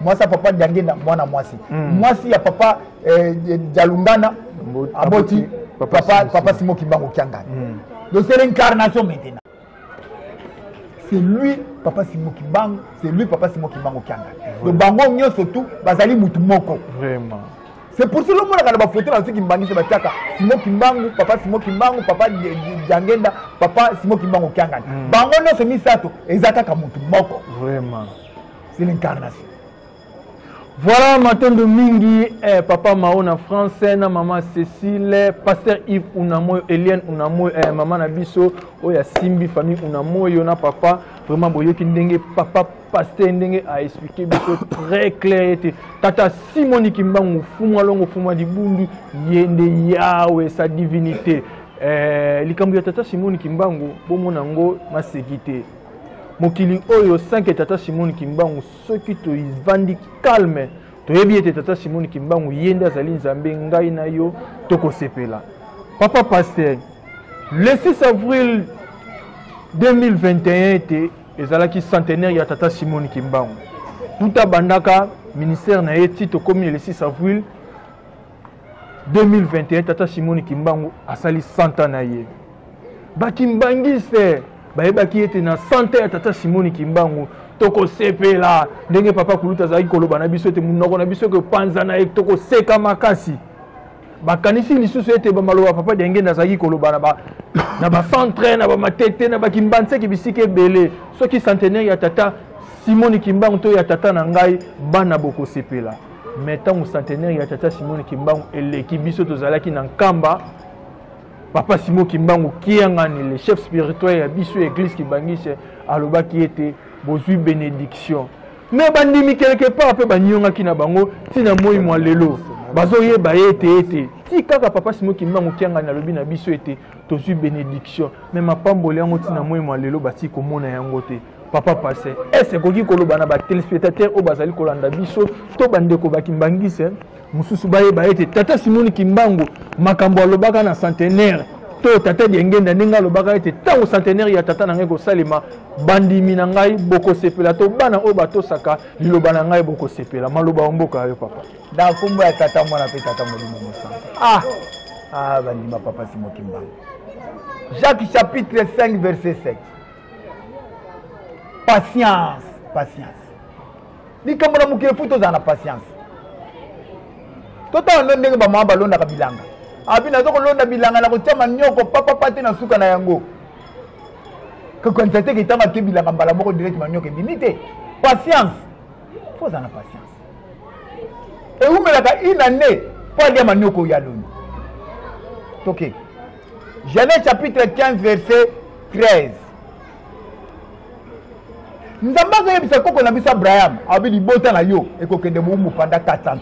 mwasi ya papa diangenda mwana mwasi hmm. mwasi ya papa eh, eh, dialungana aboti papa simo kimbango kiangani hmm. donc c'est l'incarnation maintenant c'est lui papa simo kimbango c'est lui papa simo kimbango kiangani donc bango nyonso tout bazali motu moko vraiment c'est pour cela omonaka na bafoto na biso kimbangisa batiaka simo kimbangu papa simo kimbangu papa jangenda papa simo kimbangu kiangani mm. bango nyonso misato eza kaka motu moko vraiment c'est l'incarnation voilà matondo mingi eh, papa mao na français na mama cécile pasteur yves unamoyo eliane unamoyo eh, mama na biso oyo asimbi famille unamoyo na papa vraiment boyoki ndenge papa pasteur ndenge a expliqué biso très clair ete tata simoni kimbangu fumu alongo fumu ya libundu ye nde yawe sa divinité eh, likambo ya tata simoni kimbangu bomona yango maseki te mokili oyo sanke tata simoni kimbangu soki tovandi calme toyebi ete tata simoni kimbangu ye nde azali nzambe ngai na yo tokosepela papa pasteur le 6 avril 2021 ete ezalaki centenaire ya tata simone kimbangu tuta bandaka ministère na ye ti tokomi le 6 avril 2021 tata simone kimbangu asali 100 ans na ye bakimbangiste bayebaki ete na 100 ans ya tata simone kimbangu tokosepela ndenge papa kuluta azalaki koloba na biso ete monoko na biso ekopanzana ye tokoseka makasi bakanisi lisusu ete bamaloba papa diangenda azalaki koloba na ba na bacentre na bamatete na bakimbanseki bisika ebele soki centenaire ya tata simoni kimbangu to ya tata na ngai bana bokosepela me ntango centenaire ya tata simoni kimbangu eleki biso tozalaki na nkamba papa simo kimbangu kiangani le chef spirituel ya biso ya eglise kibangise alobaki ete bozwi benediction me bandimi quelque part mpe baniongaki na bango ntina moi mwa lelo bazoyeba ye ete ete ti kaka papa simo kimba mokiangani alobi na biso ete tozwi benediction me mapamboli yango ntina moi mwa lelo batii komona yango te papa passe ese ekoki koloba na batelespectateur oyo bazali kolanda biso to bandeko bakimbangise mosusu bayeba ete tata simoni kimbangu makambo alobaka na centenaire to tata diengenda ndenge alobaka ete ntango centenaire ya tata na ngai kosalema bandimi na ngai bokosepela to bana oyo batosaka liloba na ngai bokosepela maloba ya mboka ya yo papa na nkombo ya tata mwana mpe tata molimo mosanto ah, ah bandima papa simokimbangu jacques chapitre 5 verset 7 patience patience likambo na mokili fo tozala na patience totala ndo ndenge bamama balondaka bilanga abi naza kolonda bilanga na kotya manioko papapa te na suka na yango kokanisa te ketango atye bilanga mbala moko direct manioko ebimi te patience fo ozala na patience ewumelaka une année mpo alya manioko oyo aloni toke okay. Genèse chapitre 15, verset 13. nzambe azoyebisa koko na biso abraham alobi libota na yo ekokende bowumbu panda 400 ans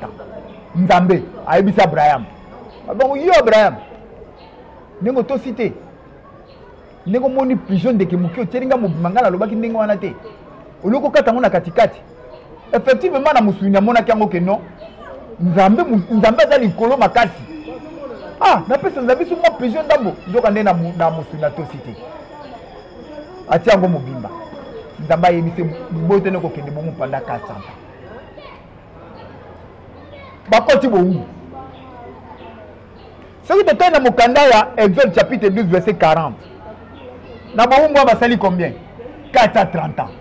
nzambe ayebisi abraham abongo yo abraham ndenge otosi te ndenge omoni pigeon ndeke moke otyeli ngai mobima ngai nalobaki ndenge wana te olioki okata yango na katikati effectivement na mosuni namonaki yango ke non nzambe nzambe aza likolo makasi ah napesa nzambe biso mwa presio ndambo nzoka nde na mosuni atosi te atia yango mobimba nzambe ayebisi boye tene kokende bongo mpanda 400 bakoti bowumbu soki totali na mokanda ya exode chapitre 12 verset 40 na bowumbu basali combien 430 ans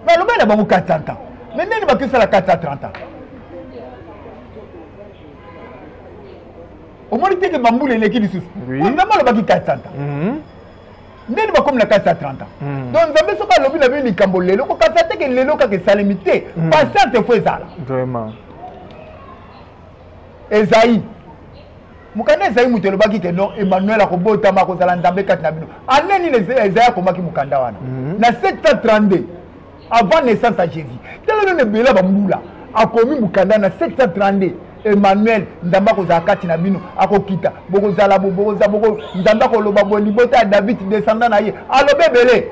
balobai na bango 430 ans me ndeni bato esala 430 ans omoni teke bambula eleki lisusu nzambe alobaki 430 ans mhm. ndeni bakomi na 430 ans mhm. donc nzambe soki alobi na bino likambo lelo kokasa teke lelo kaka esalemi te mhm. patience efo ezala ezayi mokanda ezayi moto elobaki ke non emmanuel akobotama akozala nzambe kati na bino ane nini ezayi akomaki mokanda wana mhm. na 732 avant naissance ya jésus tala nini ebela bambula akomi mokanda na 732 emmanuel nzambe akozala kati na bino akokita bokozala nzambe akoloba boye libota ya david descendant na ye alobi ebele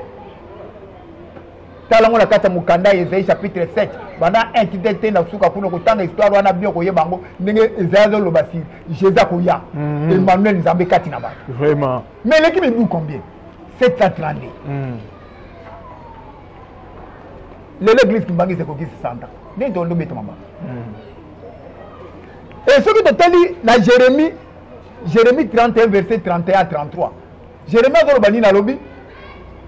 tala ngo na kati ya mokanda ya ezai chapitre 7 banda intite te na suka kuna kotanga histoire wana bio koyeba yango ndenge ezai azoloba si jésus akoya mhm. emmanuel nzambe kati na bato vraiment mais eleki mibu combien 732 mhm. lelo église kimbangisi ekokisi santa nde tondo betama bango mhm. e soki totali na jérémie jérémie 31 verset 31 à 33 jeremie azoloba nini alobi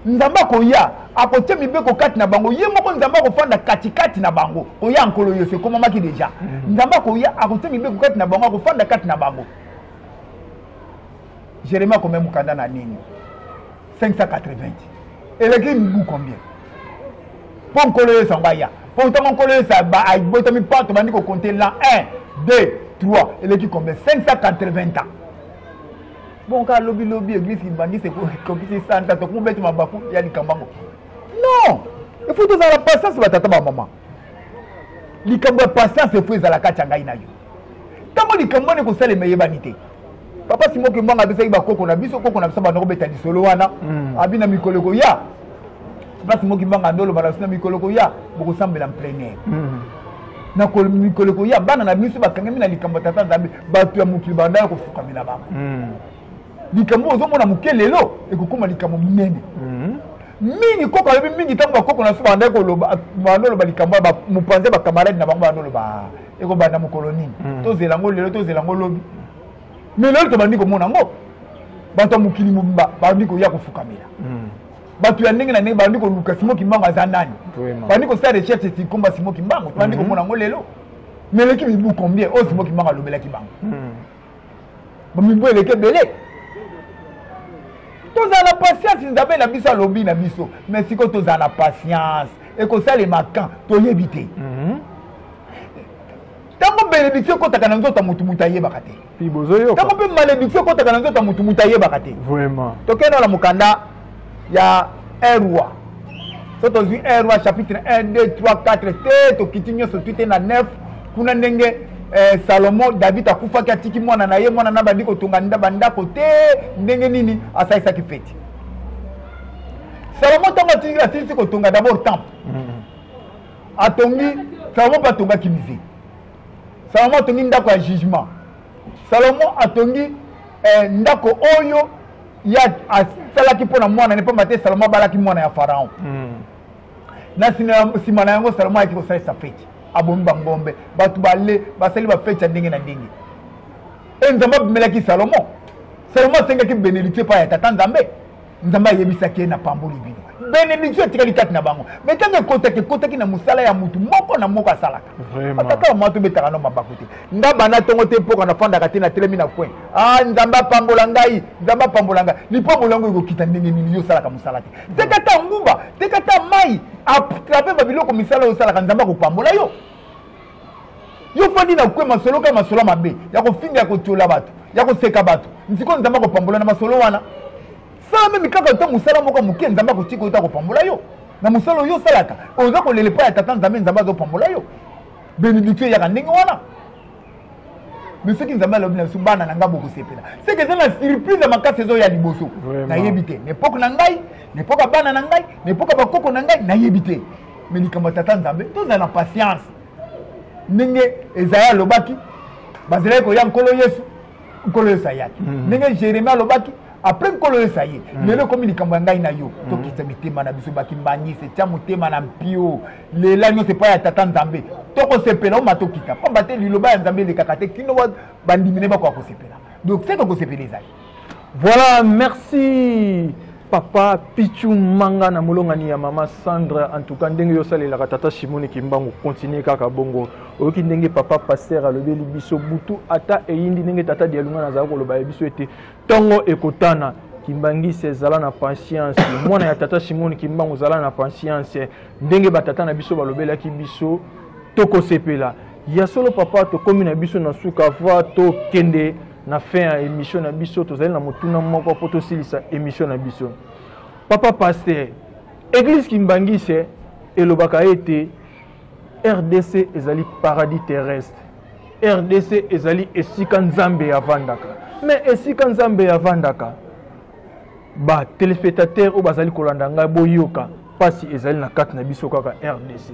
nzambe akoya akotia mibeko kati na bango ye moko nzambe akofanda katikati na bango koya nkolo yesu ekomamaki deja mhm. nzambe akoya akotia mibeko kati na bango akofanda kati na bango jeremie akomea mokanda na nini 580 eleki mibu combien mpo nkolo yesu yango aya mpo ntango nkolo yesu abotami mpo tobandi kokonte la 1 2 3 eleki combien 580 ans bon kaka lobilobi eglise kibangisi ekokisi santa tokumobeti mabaku ya likambo yango non efo tozala patience batata bamama likambo ya patience efo ezala kati ya ngai na yo ntango likambo wana ekosalema eyebani te papa simoki mbanga apesaki bakoko na biso koko na biso banda kobeta lisolo wana hmm. abi na mikolo ekoya place moki mbanga ndolo bala sina mikolo koya bokosambela mplenaire mm. na mikolo koya bana na biso bakangami na likambo ya tata nzambe bato ya mokili banda ya kofukamela bango mm. likambo oyo ozomona moke lelo ekokoma likambo monene mm. mingi koko alobi mingi ntango bakoko na biso banda koloba banda oloba likambo ya mopanzi ya bakamarade na bango banda oloba ekobanda mokolo nini tozela yango lelo tozela yango lobi mais lelo tobandi komona yango bato ya mokili mobimba babandi koya kofukamela hmm. bato ya ndenge na ndenge babandi koluka simo kimbango aza nani babandi kosala recherche etikomba simo kimbango tobandi hmm. komona yango lelo meleki mibu combien oyo simo kimbango alobelaki bango hmm. bamibu eleki ebele tozala na patience nzambe na biso alobi na biso mais sikoyo tozala na patience ekosalema kan toyebi te mm -hmm. ntango benediction ekotaka na nzoto ya motu motu ayebaka te ntango mpe malediction ekotaka na nzoto ya motu motu ayebaka te tokende na mokanda ya un roi so tozwi un roi chapitre 1 2 3 4 te tokiti nyonso twi te na 9 kuna ndenge eh, salomo david akufaki atiki mwana na ye mwana na bandi kotonga bandako te ndenge nini asalisaki feti salomo ntango asilisi kotonga dabord temple mm. atongi salomo mpe atongaki musée salomo atongi ndako ya jugement salomo atongi eh, ndako oyo ya asalaki mpo na mwana ne mpamba te salomo abalaki mwana ya faraon mm. na nsima na yango salomo ayaki kosalisa feti abomi bangombe bato bale basali bafeti ya ndenge na ndenge e nzambe abimelaki salomo salomo asengaki benediktio epai ya tata nzambe nzambe ayebisaki ye na pamboli bino benediction etikali kati na bango mai ntango ekotaki ekotaki na mosala ya motu moko na moko asalaka ataka mwa tobetaka no mabaku te nga bana ntongo te mpoka nafandaka te natelemi na coin a ah, nzambe apambola ngai nzambe apambola ngai lipambolo yango ekokita ndenge nini yo osalaka mosala te teka ta nguba teka ta mai atrave babiloko misala oyo osalaka nzambe akopambola yo yo fandi na kwe masolo ka masolo mabe ya kofinga ya kotyola bato ya koseka bato nsikoyo nzambe akopambola na masolo wana sala meme kaka ata mosala moko moke nzambe akotika oyo ta kopambola yo na mosala oyo osalaka oza kolela epai ya tata nzambe nzambe azopambola yo benediktio eyaka ndenge wana me soki nzambe alobi na biso bana na ngai bokosepela seke eza na surprise ya makasi ezoya liboso nayebi te na epoke na ngai na epoke ya bana na ngai na epoke ya bakoko na ngai nayebi te me likambo ya tata nzambe tozala na patience ndenge ezaya alobaki bazalaki koya nkolo yesu nkolo yesu ayaki mhm. ndenge jeremie alobaki apres nkolo yesu aye mhm. lelo ekomi likambo ya ngai na yo mhm. tokisa mitema na biso bakimbangisi etya motema na mpio lela nyonso epai ya tata nzambe tokosepela oma tokita mpamba te liloba ya nzambe elekaka te kino bandimi ne bakoka kosepela donc seke kosepela ezali Voilà, merci papa Pichu Manga na molongani ya mama Sandre en tout cas ndenge yo salelaka tata Simone Kimbangu continuer kaka bongo oyoki ndenge papa pasteur alobeli biso butu ata eyindi ndenge tata Dialunga nazala koloba ya biso ete tongo ekotana kimbangise zala na patience mwana ya tata Simone Kimbangu zala na patience ndenge batata na biso balobelaki biso tokosepela ya solo papa tokomi na biso na suka va tokende na fin ya émission na biso tozali na motuna moko mpo tosilisa émission na biso papa paster église kimbangise elobaka ete rdc ezali paradis terrestre rdc ezali esika nzambe avandaka me esika nzambe avandaka batelespectateur oyo bazali kolanda ngai boyoka Pasi ezali na kati na biso kaka RDC.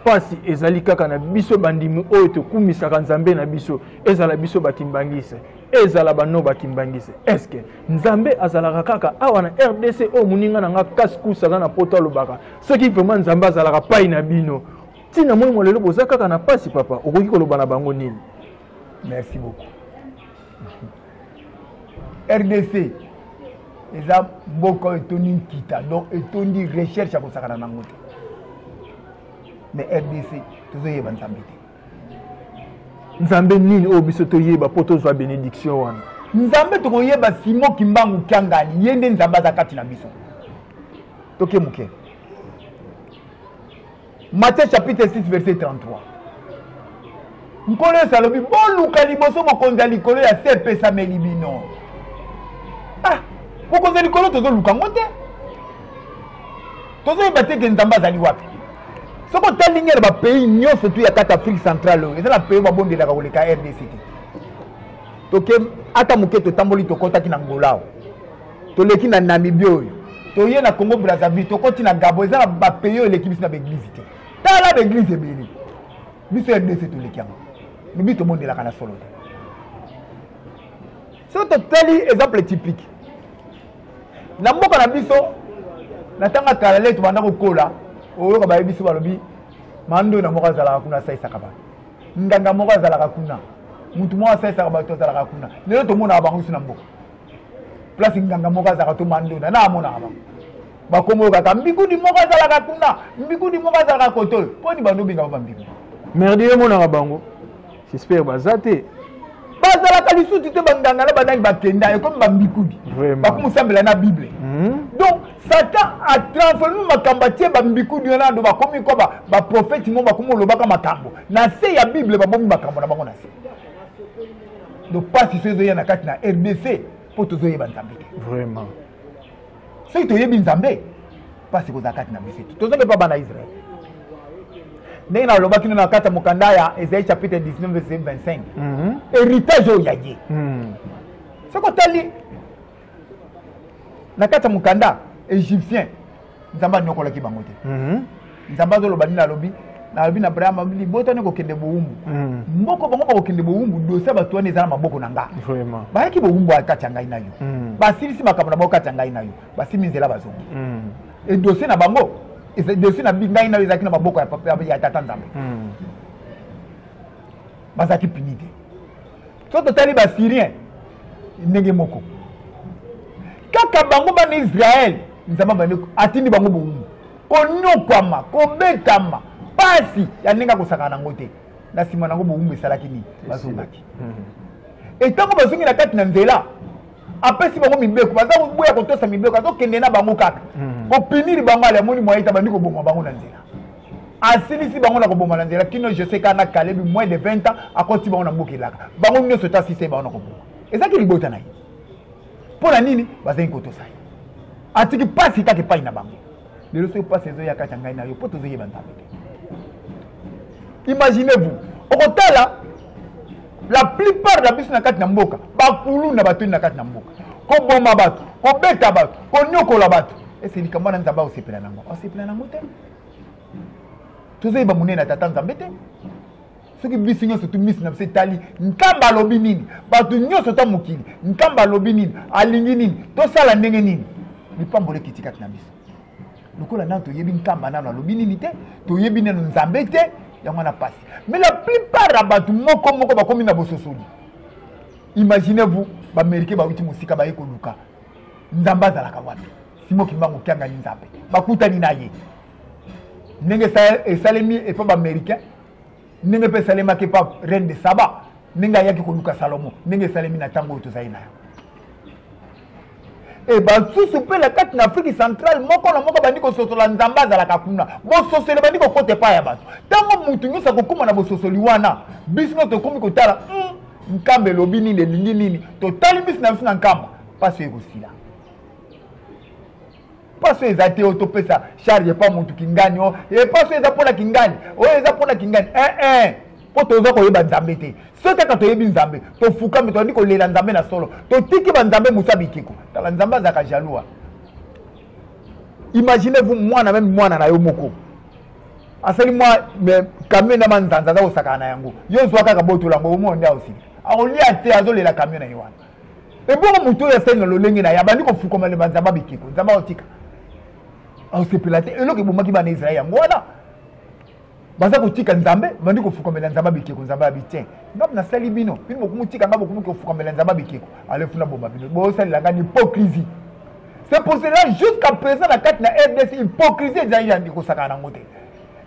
Pasi ezali kaka na biso bandimi oyo tokumisaka Nzambe na biso, ezala biso bakimbangise, ezala bano bakimbangise. Eske Nzambe azalaka kaka awa na RDC oyo moninga na nga kaskus aza na poto alobaka soki vraiment Nzambe azalaka pai na bino ntina moi mwa lelo boza kaka na pasi papa okoki koloba na bango nini merci beaucoup rdc eza mboka oyo etondi nkita donc etondi recherche ya kosakana nango te mais rdc tozoyeba nzambe te nzambe nini oyo biso toyeba mpo tozwa benediction wana nzambe tokoyeba simo kimbangu kiangani ye nde nzambe aza kati na biso toke moke Matthieu chapitre 6 verset 33 nkolo yesu alobi boluka liboso bokonzi ya likolo ya se epesameli bino ah, bokonzi ya likolo tozoluka yango te tozoyeba te ke nzambe azali wapi soki otali nge na bapays nyonso tu ya kati afrique centrale oyo eza na pays babondelaka koleka rdc te toke ata moke totamboli tokɔtaki na ngolao toleki na namibie oyo toye na congo brazzaville tokoti na gabo eza na bapays oyo eleki biso na baeglize te tala baeglize ebele biso ya rdc toleki yango lobi tobondelaka na solo te soki totali exemple typique na mboka na biso na ntango ya kala lete banda kokola oyoka bayebi biso balobi mando na moko azalaka kuna asaisaka bato nganga moko azalaka kuna motu moko asaisaka bato azalaka kuna lelo tomonaka bango biso na mboka place nganga moko azalaka to mandona na amonaka bango bakombo kaka mbikudi moko azalaka kuna mbikudi moko azalaka kote oyo mpo ni bando obengaka bambikudi merdi emonaka bango suspect baza te bazalaka lisusu te banganga na banani bakenda ekomi bambikudi bakomisambela na bible mhm. donc satan atransforme makambo atie bambikudi wana ando bakomi kwa baprofeti mo bakomi olobaka makambo na se ya bible babomi makambo na bango na se donc mpasi so ezoya na kati na rdc mpo tozoyeba nzambe te vraiment soki toyebi nzambe mpasi kozala kati na biso te toza mpe mpa bana israel ndenge nalobaki no na kati ya mokanda ya ezali chapitre 19 verset 25 héritage oyo ya ye soki otali na kati ya mokanda égyptien nzambe anyokolaki bango te mhm. nzambe azoloba nini alobi nalobi na abrahama libota wana ekokende bowumbu mhm. mboko bango bakokende bowumbu dosi ya bato wana eza na maboko na nga bayaki bowumbu kati ya ngai na yo mhm. basilisi makambo na bango kati ya ngai na yo basimi nzela bazongi edosi na bango dosi na ngai na yo ezalaki na maboko ya tata nzambe bazalaki pini te soki totali basyrien ndenge moko kaka bango bana israele nzambe abandi atindi bango bowumbu konyokwama kobetama mpasi ya ndenge akosaka nango te na nsima nango bowumbu esalaki nini bazongaki etango hmm. bazongi na kati na nzela apesi bango mibeko baza boya kotosa mibeko azokende na bango kaka hmm. kopiniri bango ale amoni mwaye ta bandi koboma bango na nzela asilisi bango na koboma na nzela kino joseka na kalebi moins de 20 ans akoti bango na mboka elaka bango nyonso ta asise bango na koboma ezalaki libota na ye mpo na nini bazali kotosa ye atiki mpasi kaka epai na bango lelo soki mpasi ezoya kati ya ngai na yo mpo tozoyeba nzambe te imaginez vous okotala la plupart na biso na kati na mboka bakulu na batoni na kati na mboka koboma bato kobeta bato konyokola bato ese likambo wana nzambe akosepela nango akosepela nango te tozoyeba monene ya tata nzambe te soki biso nyonso tumisi na biso etali nkamba alobi nini bato nyonso ta mokili nkamba alobi nini alingi nini tosala ndenge nini lipamboli ekiti kati na biso lokola nano toyebi nkamba nano alobi nini te toyebi nano nzambe te yango wana mpasi mais la plupart ya bato moko moko bakomi na bososoli imaginez vous baamericain bawuti mosika baye koluka nzambe azalaka wapi simo kimbangu kianga ye nzambe bakutani na ye ndenge esalemi epa baaméricain ndenge mpe esalemaki epa reine de saba ndenge ayaki koluka salomo ndenge esalemi na ntango oyo tozali na yango e basusu mpe na kati na afrique centrale moko na moko bandi kososola nzambe azalaka kuna bososoli bandi kokota epai ya bato ntango motu nyonso akokoma na bososoli wana biso no tokomi kotala hmm, nkamba elobi nini elingi nini totali mbisi na biso na nkamba mpasi oyo ekosila paso eza te oyo topesa charge epa motu kingani o e paso eza mpo na kingani oyo eza mpo na kingani ee eh, eh. eh. mpo toza koyeba nzambe te soki kaka toyebi nzambe tofukami toyandi kolela nzambe na solo totiki banzambe mosu ya bikeko tala nzambe azalaka jaloua imaginez vous mwana meme mwana na yo moko asali mwa kamio na manzanza aza kosakana na yango yo zwa kaka botola yango omona nde aosili akolia te azolela kamio na ye wana ebongo moto oyo asali na lolenge na ye abandi kofukama le banzamba bikeko nzambe aotika aosepela te eloko ebomaki bana israel yango wana baza kotika nzambe bandi kofukamela nzambe bikeko nzambe ya bitien ngai nasali bino bino bokomotika ngai bokomi kofukamela nzambe bikeko alefu na boma bino bosalela ngai na hypocrisie c'est pour cela jusqu'à présent na kati na rdc hypocrisie ezali yandi kosakana yango te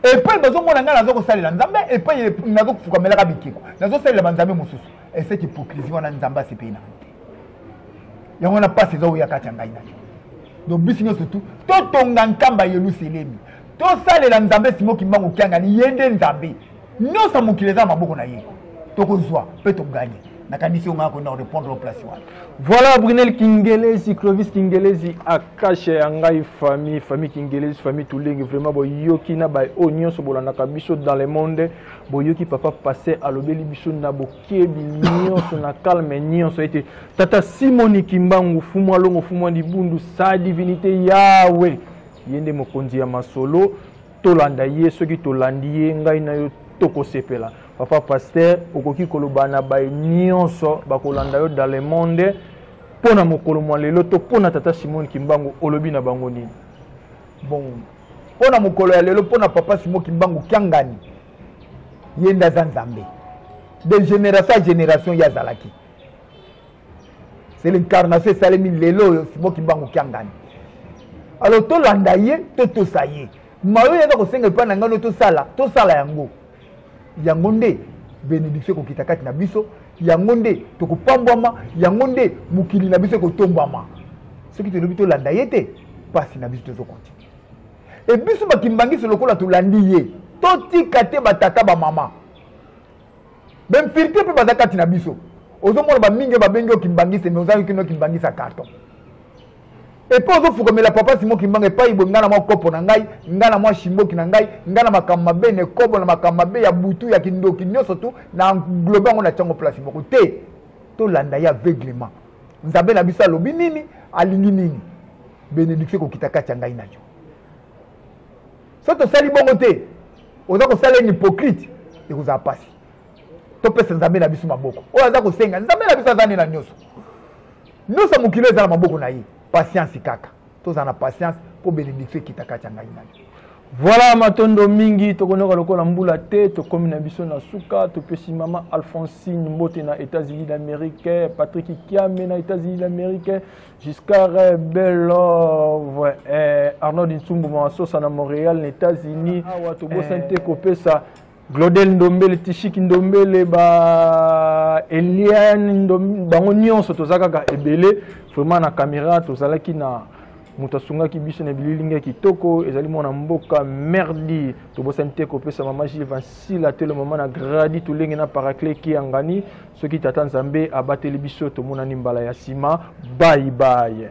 epai bazomona ngai naza kosalela nzambe epai naza kofukamelaka bikeko nazosalela banzambe mosusu eseki hypocrisie wana nzambe asepeli na yango te yango wana mpasi eza oya kati ya ngai na yo donc biso nyonso tu totonga nkamba yeluselemi tosalela nzambe simo kimbangu kiangani ye nde nzambe nyonso mokili eza na maboko na ye tokozwa mpe toganye nakanisi yo ngaa kona korepondre o place wana voilà brunel kingelesi clovis kingelesi akasha ya ngai famille famille kingelesi famille tulenge vraiment boyoki na baoyo nyonso bolandaka biso dans le monde boyoki papa paster alobeli biso na bokebi nyonso na calme nyonso ete tata simoni kimbangu fumwa longo fumwa libundu sa divinité yawe ye nde mokonzi ya masolo tolanda ye soki tolandi ye ngai na yo tokosepela papa paster okoki koloba na baye nyonso bakolanda yo dans le monde mpo na mokolo mwa lelo to mpo na tata simoni kimbangu olobi na bango nini bon mpo na mokolo ya lelo mpo na papa simo kimbangu kiangani ye nde aza nzambe de génération ya génération ye azalaki c'est l'incarnation esalemi lelo oyo simo kimbangu kiangani alors tolanda ye to tosa ye mayo ye aza kosenga epai na ngani tosala tosala yango yango nde benediktio ekokita kati na biso yango nde tokopambwama yango nde mokili na biso ekotombwama soki tolobi tolanda ye te mpasi na biso tozokontinue e biso bakimbangisi lokola tolandi ye totika te batata bamama bemfirte mpe baza kati na biso ozomona bamingi oyo babengi okimbangisi me ozangi kino okimbangisa carton epai ozofukamela papa simo kimbanga epai boye ngai na mwa kopo na ngai ngai na mwa shimboki na ngai ngai na makambo mabe na ekobo na makambo mabe ya butu ya kindoki nyonso tu na englobe yango na ntiango place moko te tolanda ye aveuglement nzambe na biso alobi nini alingi nini benediction ekokita kati ya ngai na yo so tosali bongo te oza kosala ene hypocrite ekozala mpasi topesa nzambe na biso maboko oyo aza kosenga nzambe na biso aza nde na nyonso nyonso ya mokili eza na maboko na ye pasiansi kaka tozala na pasiansi mpo benediktio ekita kati ya ngai nani voilà matondo mingi tokonoka lokola mbula te tokomi na biso na suka topesi mama alphonsine mbote na états-unis d'amérique patrick kiame na états-unis d'amérique giscard belove eh, arnold nsumbu masosa na montréal na états-unis awa tobosani te kopesa Glodel Ndombele, Tishiki Ndombele, ba Eliane Ndombele, bango nyonso toza kaka ebele vraiment na camera tozalaki na moto asungaki biso na bililingi ya kitoko ezali mwana mboka merdi tobosani te kopesa mama gile vansila telo mama na gradi tolenge na paracle kiangani soki tata nzambe abateli biso tomonani mbala ya nsima baibaye